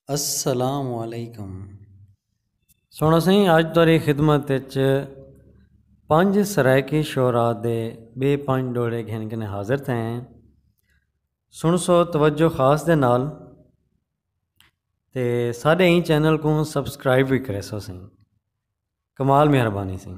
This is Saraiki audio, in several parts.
السلام علیکم سونا سائیں اج تاری خدمت وچ پنج سرائیکی شعرا دے بے پنج ڈوڑے گھن کنے حاضر تھے ہیں سن سو توجہ خاص دے نال تے ساڈے ہی چینل کو سبسکرائب بھی کرے سو سائیں کمال مہربانی سائیں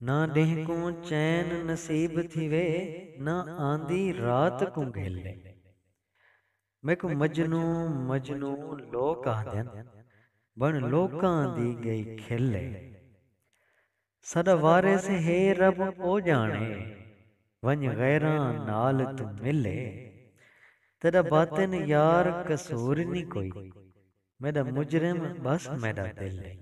نہ ڈینہہ کوں چین نصیب تھیوے نہ آندی رات کوں گھلے۔ میکوں مجنوں مجنوں لوک آہدن بن لوکاں دی گئی کھلے۔ ساڈا وارث ہے رب او جانے ونج غیراں نال توں ملے۔ تیڈا باطن یار قصور نی کوئی میڈا مجرم بس میڈا دل ہے۔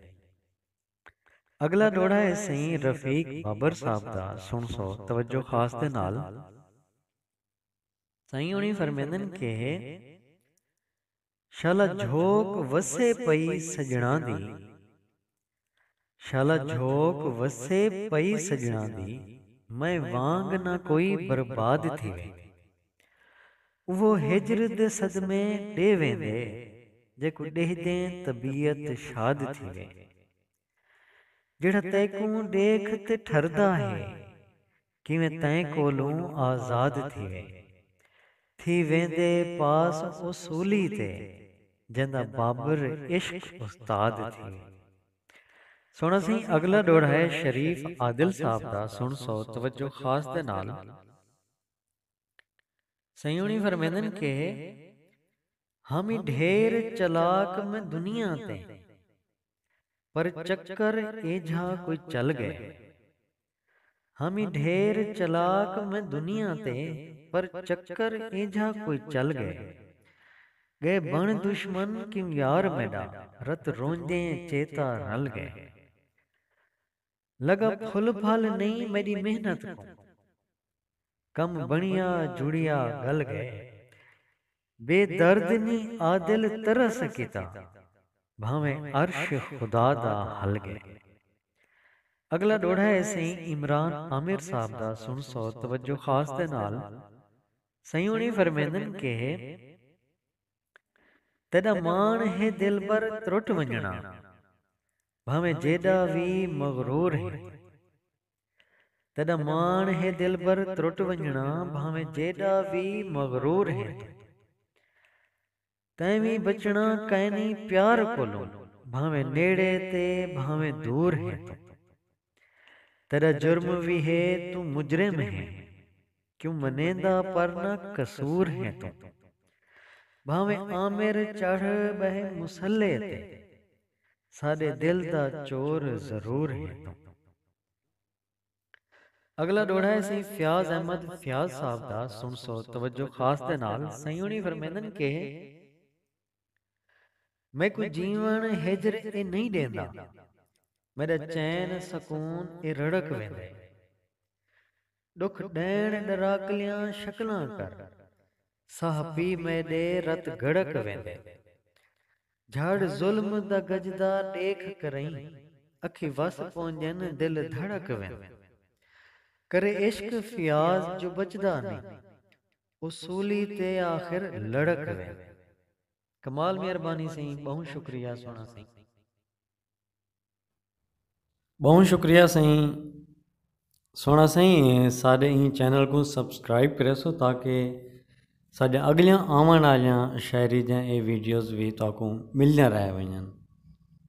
اگلا ڈوہڑا ہے سئیں رفیق بابر صاحب دا سنڑسو توجہ خاص دے نال۔ سائیں ہونی فرمیندن کہ شالا جھوک وسے پئی سجنڑاں دی شالا جھوک وسے پئی سجنڑاں دی میں وانگ نہ کوئی برباد تھیوے اوہ ہجر دے صدمے ݙے ویندے جیکوں ݙیہدیں طبیعت شاد تھیوے جیڑھا تیکوں ݙیکھ تے ٹھردا ہے کیویں تئیں کولوں آزاد تھیوے تھی ویندے پاس او سولی تے جیندا بابر عشق استاد تھیوے سݨا سئیں اڳلا ݙوہڑا ہے شریف عادل صاحب دا سݨسو توجہ خاص دے نال۔ سیوݨی فرمیندن کہ ہم ای ڈھیر چلاک میں دنیا تے پر چکر ایجھا کوئی چل گئے ہم ای ڈھیر چلاک میں دنیا تے پر چکر ایجھا کوئی چل گئے گئے بݨ دشمن کیوں یار میݙا رت رونجیں چیتا رل گئے۔ لگا پھل پھل نئیں میݙی محنت کوں کم بݨیا جڑیا ڳل ڳئے بے درد نی عادل ترس کیتا بھانویں عرش خدا دا ہل ڳئے اڳلا ݙوہڑا ہے سئیں عمران عامر صاحب دا سݨسو توجہ خاص دے نال سئیں ہوݨی فرمیندن کہ۔ تیݙا ماݨ ہے دلبر ترٹ ونڄݨا بھانویں جیݙا وی مغرور ہیں تیݙا ماݨ ہے دلبر ترٹ ونڄݨا بھانویں جیݙا وی مغرور ہیں توں تیں وی بچݨا کائنی پیار کولوں بھانویں نیڑے تے بھانویں دور ہیں توں۔ تیڈا جرم وی ہے توں مجرم ہیں کیوں منیندا پر نہ قصور ہیں توں بھانویں آمر چڑھ بہہ مصلے تے ساڈے دل دا چور ضرور ہیں توں۔ اگلا ڈوہڑا ہے سئیں فیاض احمد فیاض صاحب دا سنڑسو توجہ خاص دے نال سئیں ہونی فرمیندن کہ۔ میکوں جیوݨ ہجر اے نئیں ݙیندا میݙا چین سکون اے رڑک ویندے ݙکھ ݙیݨ ݙراکلیاں شکلاں کر ساہ پی میݙے رت گھڑک ویندے جھڑ ظلم دا گجدا ݙیکھ کرئیں اکھیں وس پونجن دل دھڑک ویندے کرے عشق فیاض جو بچدا نئیں اصولی تے آخر لڑک وے۔ کمال مہربانی سئیں ٻہوں شکریہ سوہݨا سئیں۔ ٻہوں شکریہ سئیں سوہݨا سئیں ساݙے ایں چینل کوں سبسکرائب کریسو تاکہ ساݙیاں اڳلیاں آوݨ آلیاں شاعری دیاں اے ویڈیوز وی تہاکوں ملدیاں رہ ونڄن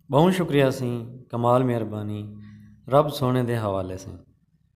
ٻہوں شکریہ سئیں کمال مہربانی رب سوہݨے دے حوالے سئیں۔